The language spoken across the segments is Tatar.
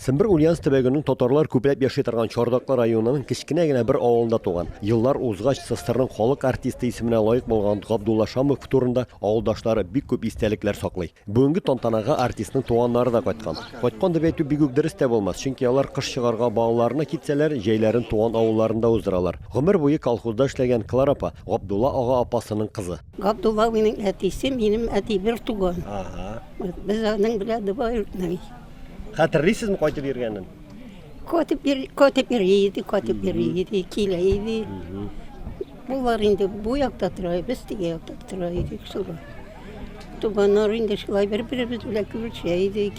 Сембер Ульяновск төбәгенең татарлар күпләп яши торган Чардаклы районының кечкенә генә бер авылында туган. Еллар узгач, СССРның халык артисты исеменә лаек булган Габдулла Шамов турында авылдашлары бик күп истәлекләр саклый. Бүгенге тантанага артистның туганнары да кайткан. Кайткан дип әйтү бик үк дөрес тә булмас, чөнки алар кыш чыгарга балаларына китсәләр, җәйләрен туган авылларында уздыралар. Гомер буе колхозда эшләгән Клара апа, Габдулла ага апасының кызы. Габдулла абыйның әтисе минем әти бер туган. Ага. Без аның белән двоюродный. Хәтерлисезме кайтып йөргәнен? Кайтып йөр, кайтып йөр иде, кайтып йөр иде, килә иде. Булар инде бу якта тора, без теге якта тора идек шулай. Туганнар инде шулай бер-беребез белән күрешә идек.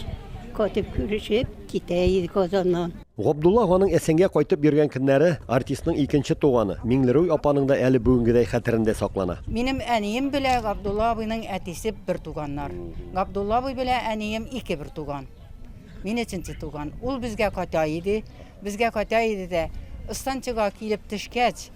Кайтып күрешеп китә идек Казаннан. Габдулла аганың Әсәнгә кайтып йөргән көннәре артистның икенче туганы Миңлерүй апаның да әле бүгенгедәй хәтерендә саклана. Минем әнием белә Габдулла абыйның әтисе бер туганнар. Габдулла абый белә әнием ике бер туган. Мин өченче туган. Ул безгә кайта иде. Безгә кайта иде дә, ыстанчыга килеп төшкәч,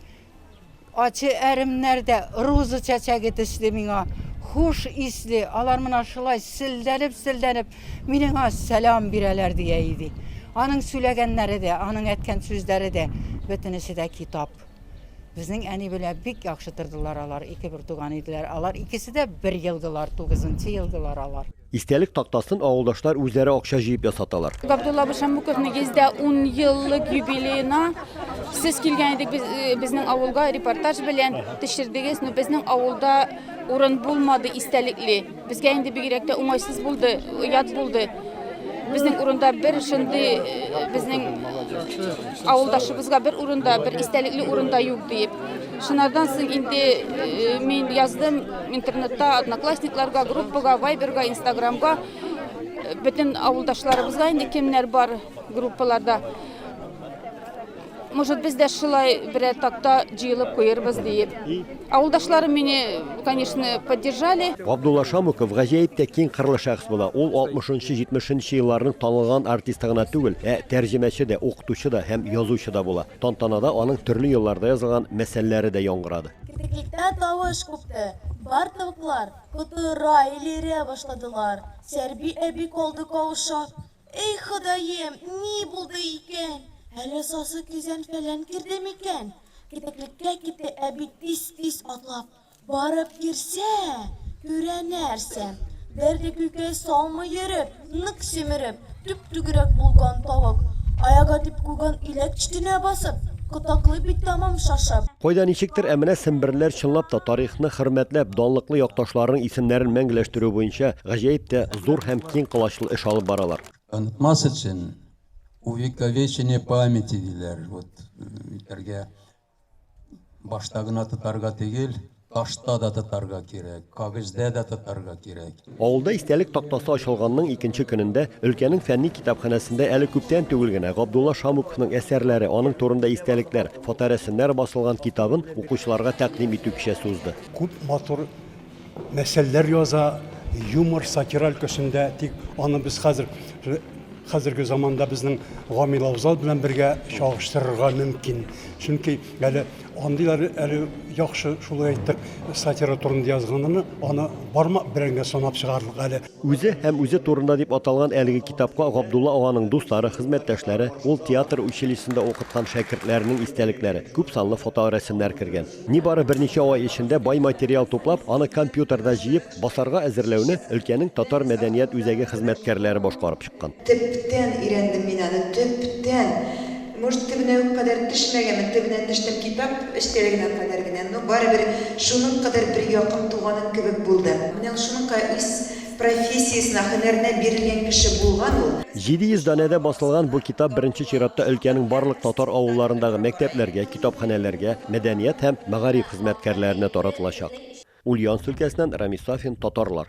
Ачы әремнәр дә роза чәчәге төсле миңа хуш исле, алар менә шулай селдәнеп-селдәнеп миниңа сәлам бирәләр, ди Әйди. Аның сүләгәннәре дә, аның әткән сүзләре дә, бөтенесе дә китап. Безнең әни белә бик яхшы тордылар алар, ике бертуган иделәр. Алар икесе дә бер елгылар, тугызынчы елгылар алар. Истәлек тактасын авылдашлар үзләре акча җыеп ясаталар. Габдулла абый Шәммүковның йөздә ун еллык юбилеена сез килгән идек без, э, безнең авылга репортаж белән төшердегез. Ну, безнең авылда урын булмады истәлекле. Безгә инде бигрәк тә уңайсыз булды, ят булды. Безнең урында бер шундый э, безнең авылдашыбызга бер урында, бер истәлекле урында юк диеп. Шунардан соң инде мин яздым интернетта одноклассникларга, группага, вайберга, инстаграмга. Бөтен авылдашларыбызга инде кемнәр бар группаларда. Может, без дә шулай берәр такта җыелып куербыз диеп. Авылдашларым мине, конечно, поддержали. Габдулла Шамуков гаҗәеп тә киң кырлы шәхес була. Ул 60-70 елларның танылган артисты гына түгел, ә тәрҗемәче дә, укытучы да һәм язучы да була. Тантанада аның төрле елларда язылган мәсәлләре дә яңгырады. Кикриктә тавыш купты. Бар тавыклар котыра, элерә башладылар. Сәрби әби калды каушап. Эй, Ходаем, ни булды икән? Әллә сасы көзән-фәлән керде микән? Китеклеккә китте әби тиз-тиз атлап. Барып керсә, күрә нәрсә, бер дә күкәй салмый йөреп, нык симереп, төп-түгрәк булган тавык, аягы дип куйган иләк читенә басып, кытаклый бит тәмам шашып. Кайда ничектер, ә менә семберлеләр чынлап та тарихны хөрмәтләп, данлыклы якташларының исемнәрен мәңгеләштерү буенча гаҗәеп тә зур һәм киң колачлы эш алып баралар. Онытмас өчен, увековечение памяти, диләр, вот, үтәргә Башта гына тотарга төгел, ташта да тотарга кирәк, кагыйздә дә тотарга кирәк. Авылда истәлек тактасы ачылганның икенче көнендә өлкәнең фәнни китапханәсендә әле күптән түгел генә Габдулла Шамуковның әсәрләре, аның турында истәлекләр, фоторәсемнәр басылган китабын укучыларга тәкъдим итү кичәсе узды. Күп матур мәсьәләләр яза, юмор, сатира өлкәсендә, тик аны без хәзер хәзерге заманда безнең Гамил Авзал белән бергә чагыштырырга мөмкин. Чөнки әле андыйлар әле яхшы шулай әйтеп сатира турында язганыны аны бармак белән генә санап чыгарлык әле. Үзе һәм үзе турында дип аталган әлеге китапка Габдулла аганың дуслары, хезмәттәшләре, ул театр училищесында укыткан шәкертләренең истәлекләре, күпсанлы фоторәсемнәр кергән. Нибары берничә ай эчендә бай материал туплап, аны компьютерда җыеп, басарга әзерләүне өлкәнең татар мәдәният үзәге хезмәткәрләре башкарып чыккан. Төптән өйрәндем мин аны, төптән! Может, төбенә үк кадәр төшмәгәнмен, төбенә төштем, китап эчтәлегенә кадәр генә, но барыбер шуның кадәр бер якын туганым кебек булды. Менә ул шуның кадәр ис. Профессиясенә, һөнәренә бирелгән кеше булган ул. 700 данәдә басылган бу китап беренче чиратта өлкәнең барлык татар авылларындагы мәктәпләргә, китапханәләргә, мәдәният һәм мәгариф хезмәткәрләренә таратылачак. Ульяновск өлкәсеннән Рамис Сафин, Татарлар.